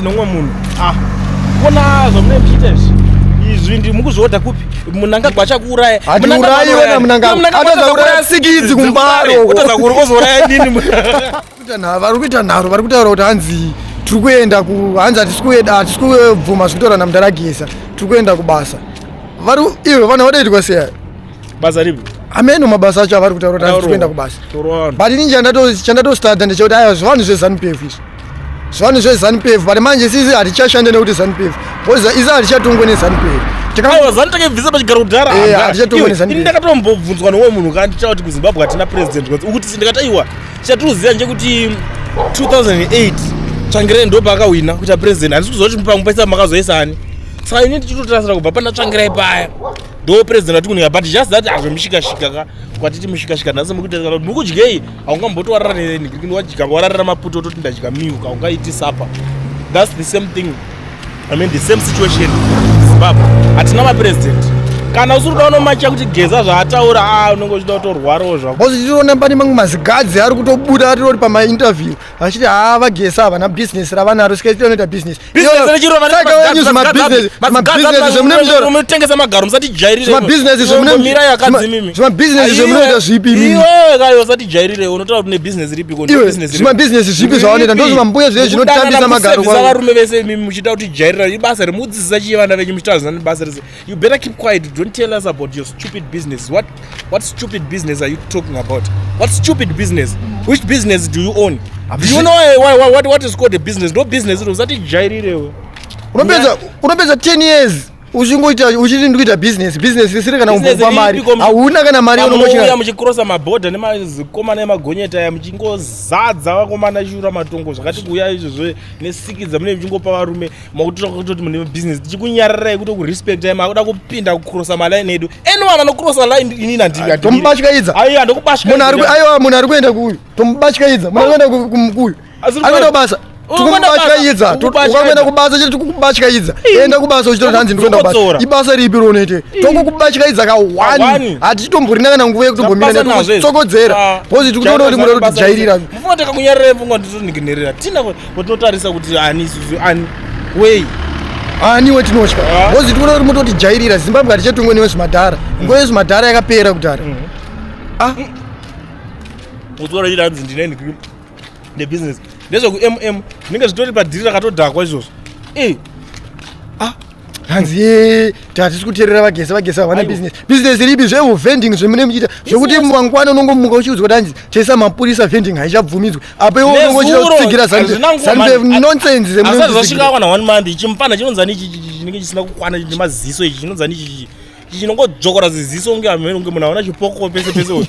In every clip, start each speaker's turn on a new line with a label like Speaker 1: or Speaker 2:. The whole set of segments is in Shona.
Speaker 1: nomwe munhu ah kona zvamune muchiita izvi izvi ndi mukuzvihodha kupi munanga gwacha kuuraya hatiurayi wena munanga
Speaker 2: atazauraya sikidzi kumbaro kutaza kuri ozouraya
Speaker 1: nini kuita nharo
Speaker 2: vari kuita nharo vari kutaura kuti hanzi tiri kuenda ku hanzi hatisi kubvuma zviri kutaura namdaragisa tiri kuenda kubasa vari ivo vana vadaitwa seya basa ripi
Speaker 1: ameno mabasa acho
Speaker 2: avari kutaura kuti hatisi kuenda kubasa but ini chandatostadha ndechekuti aya zvivanhu zvezanupf izvi zvivanhu zvezanupf but manje sisi hatichashande nekuti zanupf bcause isi hatichatongwe nezanupf aiwazanitakevhisa
Speaker 1: pachigara kudhara eh, ndakatombobvunzwa nowo munhu kandichava kuti kuzimbabwe hatina president kwanzi ukuti si ndikati aiwa chatiriuziva ndechekuti 2008 tsvangirai ndo paakahwina kuita president handisi kuziva kuti pamwe paisa makazoisa ani saka ini ndichitotarasira kubva pana tsvangirai paya ndo president vatikunika but just that hazvomishikashika ka kwatiti mishikashika nhasi mukutesaka kuti mukudyei haungamboto warara nenikirikini wadya wararira maputo ototi ndadya milk haungaiti sapa thats the same thing i mean the same situation zimbabwe hatina mapresident kana usiri kuda unomacha kuti geza zvaataura a ah, unenge uchida kutorwarawo zvako bcause tichiona pane mamwe
Speaker 2: mazigadzi ari kutobuda atiroti pamainterview vachiti haa vagesa havana bhizinesi ravanaro sikaitira unoita bhizinesimabhizinesiaatengesa
Speaker 1: magaro musatijairireimabhizinesi
Speaker 2: zvemunoita zvipiusatijairire
Speaker 1: unotaura kuti nebhizinesi ripikozvimabhizinesi zvipi
Speaker 2: zvavanoita ndozvimambuya zviye zvinotambisa magaro varume vese imi
Speaker 1: muchiita kuti jairira ibasa remudzidzisa chiye vana venyu muchitaura zina nebasa rese You better keep quiet. Don't tell us about your stupid business. What what stupid business are you talking about? What stupid business? Which business do you own? Do you know why, why, why, what, what is called a business? No business. It was that jairire. Unapeza
Speaker 2: unapeza 10 years uchingoita uchiti ndikuita business business risiri kana kumbopa mari hauna kana mari unomuchiuya muchikrosa
Speaker 1: mabhodha nemazikomana emagonyeta aya muchingozadza vakomana chura matongo zvakati kuuya izvozvo nesikidza mune muchingopa varume makutoda kutoti mune business tichikunyararai kuto kurespectai makuda kupinda kucrossa maline edu anyone anocrossa line inini anditombatyaidza aiwa
Speaker 2: ndokubatyaaiwa munhu ari kuenda kuuyu tomubatyaidza munhu ari kuenda kumukuyu ari kuenda kubasa tikubatyaidza ukakuenda kubasa chete tikukubatyaidza enda kubasa uchitoti hanzi ndikuenda kubasa ibasa ripi ronoite tokukubatyaidza kawani hatichitomborina kana nguva yekutombomira netsokodzera ah. bcause tikutoona kuti muda kuti tijairira
Speaker 1: Ko tinotarisa kuti ani isusu ani wei ani
Speaker 2: wetinotya ah. bhozi tikuona kuti mototijairira zimbabwe hatichatongwe newezvimadhara mm. nguva yezvimadhara yakapera kudhara mm. ah.
Speaker 1: mm. utora iri hanzi ndine ndikri nebusiness ndezvekumm zvinenge zvitori padhiri rakatodhakwa izvozvo eh. ah.
Speaker 2: hanzi ye tatisi kuterera vagese vagese havana business business ripi zveuvending zvemune muchiita zvekuti mangwana unongomuka uchiudzwa kuti hanzi chesa mapurisa vending haichabvumidzwe apa iwe unongo uchida kutsigira nonsense zvemunezvasvika
Speaker 1: kwana one month chimupana chinonzani chinenge chisina kukwana nemaziso ichi chinonzani ichichi chinongodzvokora ziziso kunge ameno kunge munhu aona chipoko pese pese uyu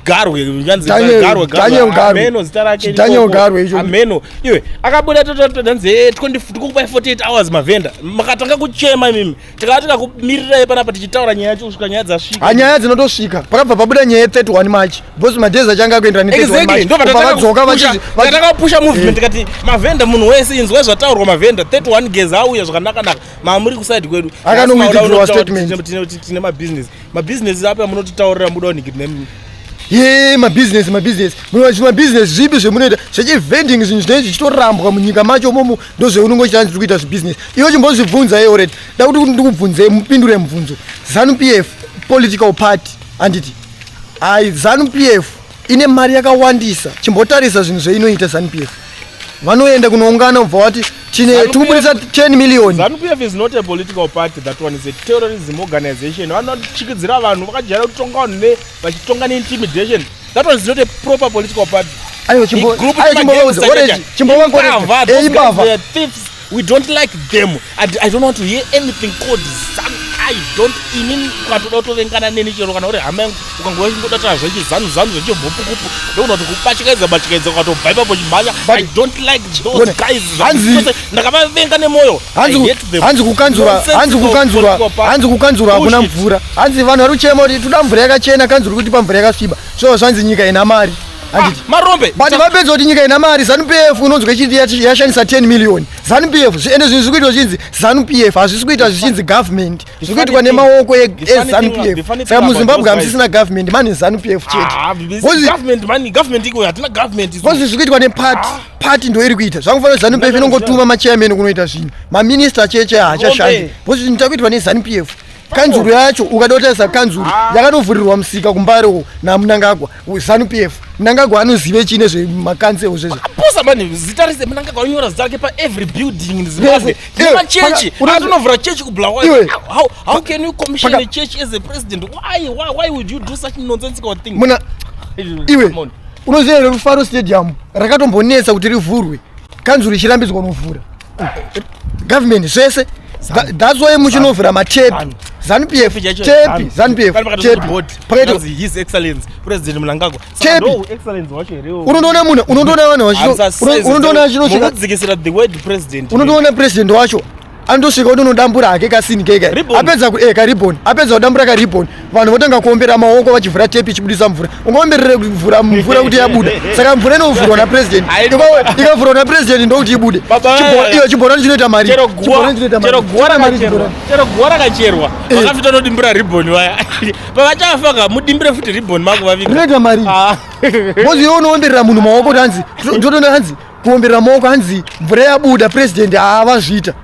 Speaker 1: garwe zvanzi Daniel- garwe Daniel Garwe. ameno zita rake Daniel chipoko. Garwe icho. ameno iwe akabuda tototanzi e 20 tikukupai 48 hours mavhenda makatanga kuchema imimi tikava tikakumirirai panapa tichitaura nyaya yacho kusvika nyaya dzasvika hanyaya dzinotosvika
Speaker 2: pakabva pabuda nyaya ye 31 march bcause madhezi achange akuendera ne 31 Exactly, march ndobva Kubva vadzoka tatanga vachizi- kupusha- vachi-
Speaker 1: tatanga kupusha movement tikati mavhenda munhu wese inzwai zvataurwa mavhenda 31 geza auya zvakanaka naka ma muri kuside kwedu akanowithdrowa
Speaker 2: statementtine mabusiness
Speaker 1: mabusiness api amunototaurira muda nickname ye
Speaker 2: mabusiness mabusiness munovachi mabusiness zvipi zvemunoita zvechivending zvinhu zvinenge zvichitorambwa munyika macho momo ndozveunenge uchitanga tiri kuita zvibusiness iwe chimbozvibvunza ye oret da kuti kuti ndikubvunze mupindure mubvunzo zanu p f political party handiti hai zanu p f ine mari yakawandisa chimbotarisa zvinhu zveinoita zanupf vanoenda kunoungana ubva wati tine tikubudisa 10 million zanupf is not a
Speaker 1: political party that one is a terrorism organization vanochikidzira vanhu vakajaira kutonga vanhu ne vachitonga neintimidation that one is not a proper political party ayo chimbo ayo chimbo wauze orange chimbo wangu orange eimbava We don't like them and I don't want to hear anything called zanu. I don't ini ukatoda kutovengana neni chero kana uri hama yangu ukangova chingoda taa zvechi zanu zanu zvechi bhupukupu ndoona kuti kupachikaidza pachikaidza ukatobva ipapo chimhanya I don't like those guys hanzi ndakavavenga nemoyo hanzi hanzi
Speaker 2: kukanzura hanzi kukanzura hanzi kukanzura hakuna mvura hanzi vanhu vari kuchema kuti toda mvura yakachena kanzura kuti pamvura yakasviba so zvanzi nyika ina mari Ah, marombe but
Speaker 1: vapedza kuti nyika
Speaker 2: ina mari zanu pf inonzwa ichinzi yashandisa 10 million zanu pf zviende zvinhu zvikuitwa zvichinzi zanu pf hazvisi kuita zvichinzi government zvikuitwa nemaoko ezanu pf saka muzimbabwe hamusisina government mani zanu pf chetekozi
Speaker 1: ah, zvikuitwa
Speaker 2: nepati ah. pati ndo iri kuita zvakufanira zanu pf inongotuma machairman kunoita zvinhu maminista cheche haachashandi kozi zvinhu takuitwa nezanu pf kanzuru yacho ukada kutarisa kanzuru ah. yakatovhurirwa musika kumbare uko namunangagwa zanu p f munangagwa anozive chii nezvemakansewo zvezvo aposa mani zita
Speaker 1: rese munangagwa unyora zita rake paevery building in zimbabwe nemachechi anonovhura chechi kubulawayo how, how can you commission a church as a president why, why, why would you do such nonsensical thing muna iwe
Speaker 2: unoziva here rufaro stadium rakatombonetsa kuti rivhurwe kanzuru ichirambidzwa unovhura government zvese that's why muchinovhura matepi zanupf tepi zanupf
Speaker 1: tepiunondoona
Speaker 2: munhu unondoona vanhu unondoona
Speaker 1: unondoona president wacho
Speaker 2: anotosvika kuti unodambura hake kasini keka apedza kueka eh, ribon apedza kudambura karibon vanhu votanga kuombera maoko vachivhura tepi ichibudisa mvura ungaomberere kuvhura mvura kuti yabuda saka mvura inovhurwa napresident ikavhurwa napresident ndokuti ibude iyo chibhorani chinoita marichero
Speaker 1: guwa rakacherwa eh. vakafita unodimbira riboni vaya pavachafaka mudimbire futi riboni makuvaviga rinoita mari ah.
Speaker 2: bozi yo unoomberera munhu maoko kuti hanzi ndotoona hanzi kuombera maoko hanzi mvura yabuda president haavazviita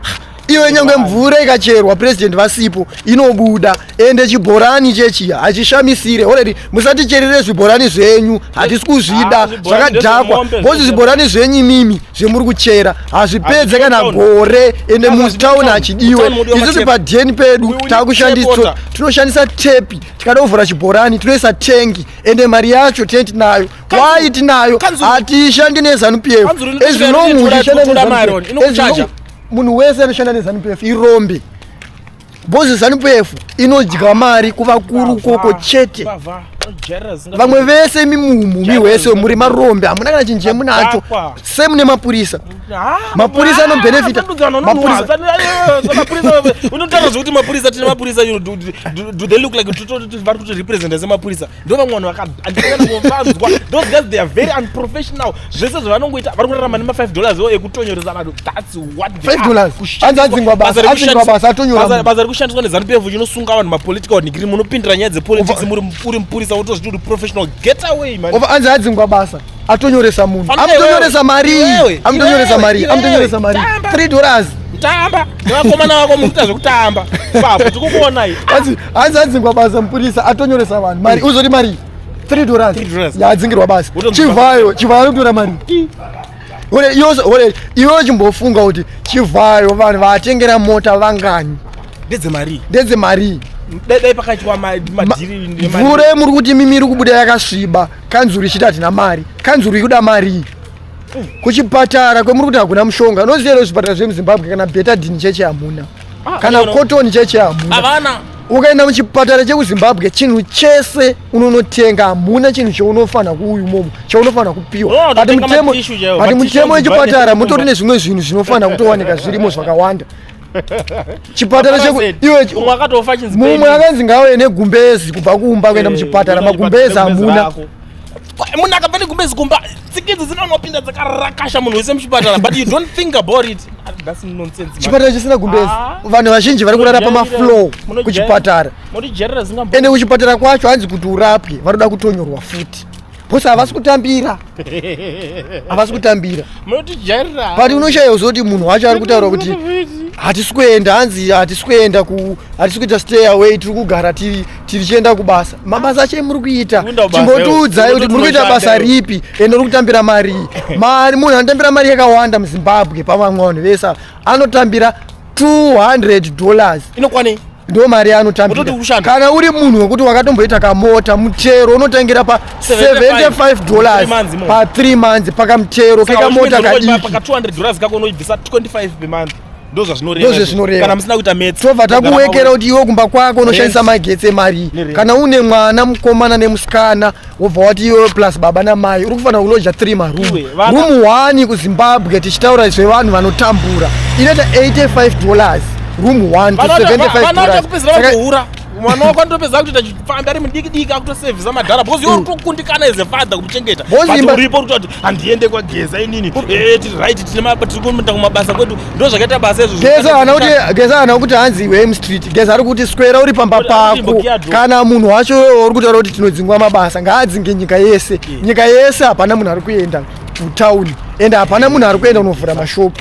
Speaker 2: iwe nyange mvura ikacherwa president vasipo inobuda ende chibhorani chechiya hachishamisire oredi musaticherere zvibhorani zvenyu hatisi kuzvida ah, zvakadhakwa bcozi zvibhorani zvenyu imimi zvemuri kuchera hazvipedze kana gore ende mutown hachidiwe isusu padheni pedu takushandisa tinoshandisa tepi tikada kuvhura chibhorani tinoisa tengi ende mari yacho tenti nayo why tinayo hatishandi nezanu pf munhu wese anoshanda nezanu pf irombe bhozi zanu pf inodya mari kuvakuru koko chete vamwe vese mimumumi wese muri marombe hamuna kana chinje munacho same nemapurisa mapurisa anobenefita unotaura
Speaker 1: zvekuti mapurisa tine mapurisa vari kuti representa semapurisa ndo vamwe vanhu vakaandikananovanzwa those guys they are very unprofessional zvese zvavanongoita vari kurarama nema5 dollars o ekutonyoresa vanhu thats what
Speaker 2: basa rekushandiswa nezanu
Speaker 1: pf chinosunga vanhu mapolitical wanigiri munopindira nyaya dzepolitics uri mupurisa wotozviti uri professional get away man anzi adzingwa basa
Speaker 2: atonyoresa munhu amutonyoresa mari amutonyoresa mari amutonyoresa mari 3 dollars tamba
Speaker 1: nevakomana vako mukuita zvekutamba papo tikukuonai hanzi adzingwa
Speaker 2: basa mupurisa atonyoresa vanhu mari uzoti mari 3 dollars yaadzingirwa basa chivhayo chivhayo anotora mari iwe chimbofunga kuti chivhayo vanhu vaatengera mota vangani ndedzemarii ndedzemarii dai
Speaker 1: pakaitywa madhiri mvura yemuri kuti
Speaker 2: mimi iri kubuda yakasviba kanzuru ichiti hatina mari kanzuru ikuda marii kuchipatara kwemuri kuti hakuna mushonga unoziva here zvipatara zvemuzimbabwe kana betadini cheche hamuna ah, kana kotoni cheche hamuna ukaenda muchipatara chekuzimbabwe chinhu chese unonotenga hamuna chinhu chaunofanira kuuyu momo chaunofanira kupiwa oh, ati mutemo wechipatara mutori nezvimwe zvinhu zvinofanira kutowanika zvirimo zvakawanda chipatara chekudimumwe akanzi ngauye negumbezi kubva kumba kuenda eh, muchipatara magumbezi hamuna munhu
Speaker 1: akabva negumbezi kumba tsikidzi dzinonopinda dzakarakasha munhu wese muchipatara but you don't think about it chipatara chisina gumbezi
Speaker 2: ah. vanhu vazhinji vari kurara pamaflow kuchipatara ende kuchipatara kwacho hanzi kuti urapwe vanoda kutonyorwa futi Boss havasi kutambira. Havasi kutambira. Munotijairira. But unoshaya uzoti munhu wacho ari kutaura kuti hatisi kuenda hanzi hatisi kuenda ku hatisi kuita stay away tiri kugara tiri tiri chienda kubasa. Mabasa acho muri kuita. Chimbotiudzai kuti muri kuita basa ripi ende uri kutambira mari. Mari munhu anotambira mari yakawanda muZimbabwe pamwe vanhu vese anotambira 200 dollars inokwanei
Speaker 1: ndo mari
Speaker 2: yaanotambira kana uri munhu wekuti wakatomboita kamota mutero unotangira pa 75 dollars pa 3 months pakamutero kekamota
Speaker 1: kadikitobva takuwekera kuti
Speaker 2: iwe kumba kwako unoshandisa magetsi emari kana une mwana mukomana nemusikana wobva wati iwe plus baba namai uri kufanira kuloja three maroom room one kuzimbabwe tichitaura izvo vanhu vanotambura inoita 85 dollars room one to 75
Speaker 1: mwana wako anotopedza kutoita chifambi ari mudikidiki akutosevhisa madhara because iwe mm. urikukundikana as a father kumuchengeta uripo urikuti handiende kwageza inini eh, tiri right tiri kuenda kumabasa kwedu ndo zvakaita basa izvogeza ana
Speaker 2: kuti hanzi iwe mstreet geza ari kuti swera uri pamba pako kana munhu wacho wewe uri kutaura kuti tinodzingwa mabasa ngaadzinge nyika yese nyika yese hapana munhu ari kuenda kutown ende hapana munhu ari kuenda unovhura mashopu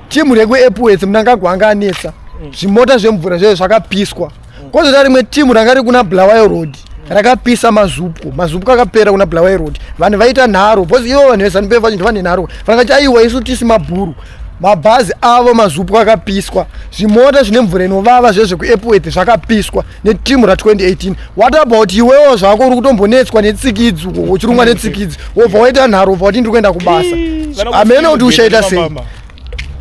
Speaker 2: Team rekwe Epworth Mnangagwa anga anetsa mm. zvimota zvemvura zvayo zvakapiswa mm. kozota rimwe team ranga riri kuna Bulawayo Road rakapisa mazupko mazupko akapera kuna Bulawayo Road vanhu vaita nharo because ivo vanhu veZanu PF vachinzi vane nharo vakati aiwa isu tisi mabhuru mabhazi avo mazupwa akapiswa zvimota zvine mvura inovava zvezvekuepworth zvakapiswa neteam ra 2018 what about iwewo zvako uri kutombonetswa netsikidzi uchirumwa netsikidzi wobva waita nharo wobva wati ndiri kuenda kubasa amene kuti uchaita sei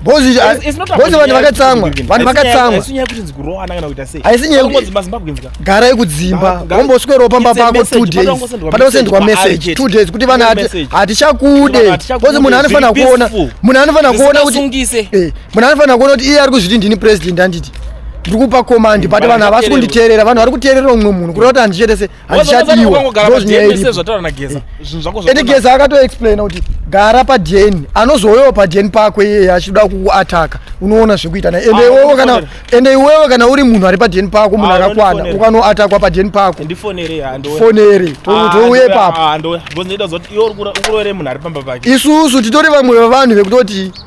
Speaker 2: bozi vanhu vakatsamwa vanhu vakatsamwahaisinyegara yekudzimba womboswerawo pamba pako two days pada kusendwa message two days kuti vana hatichakude bozi munhu anofanira kuona munhu anofanira kuona kuti eh, munhu anofanira kuona kuti iye ari kuzviti ndini president anditi ndiri kupa komandi but vanhu havasi kunditeerera vanhu vari kuteerera umwe munhu kureva kuti handichete se handichadiwa ende geza akatoexplaina kuti gara padn anozouyawo padn pako iyeye achida kukuataka unoona zvekuita naye ende ah, iwewe kana ende iwewe kana uri munhu ari padn pako munhu ah, akakwana ukanoatakwa padn pako fonere ah, touye papo isusu titori vamwe vevanhu vekutoti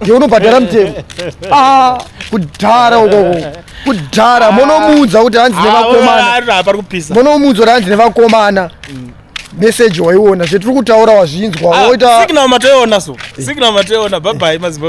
Speaker 2: ndiye unobhadhara mutemo ah, kudhara ukoko kudhara ah. monomuudza kuti hanzi ah, nevakomana monomuudza kuti hanzi nevakomana mm.
Speaker 1: meseji waiona
Speaker 2: zvetiri
Speaker 1: kutaura
Speaker 2: wazvinzwa
Speaker 1: woita signal
Speaker 2: matoiona
Speaker 1: so
Speaker 2: signal
Speaker 1: matoiona bye
Speaker 2: bye mazimbabwe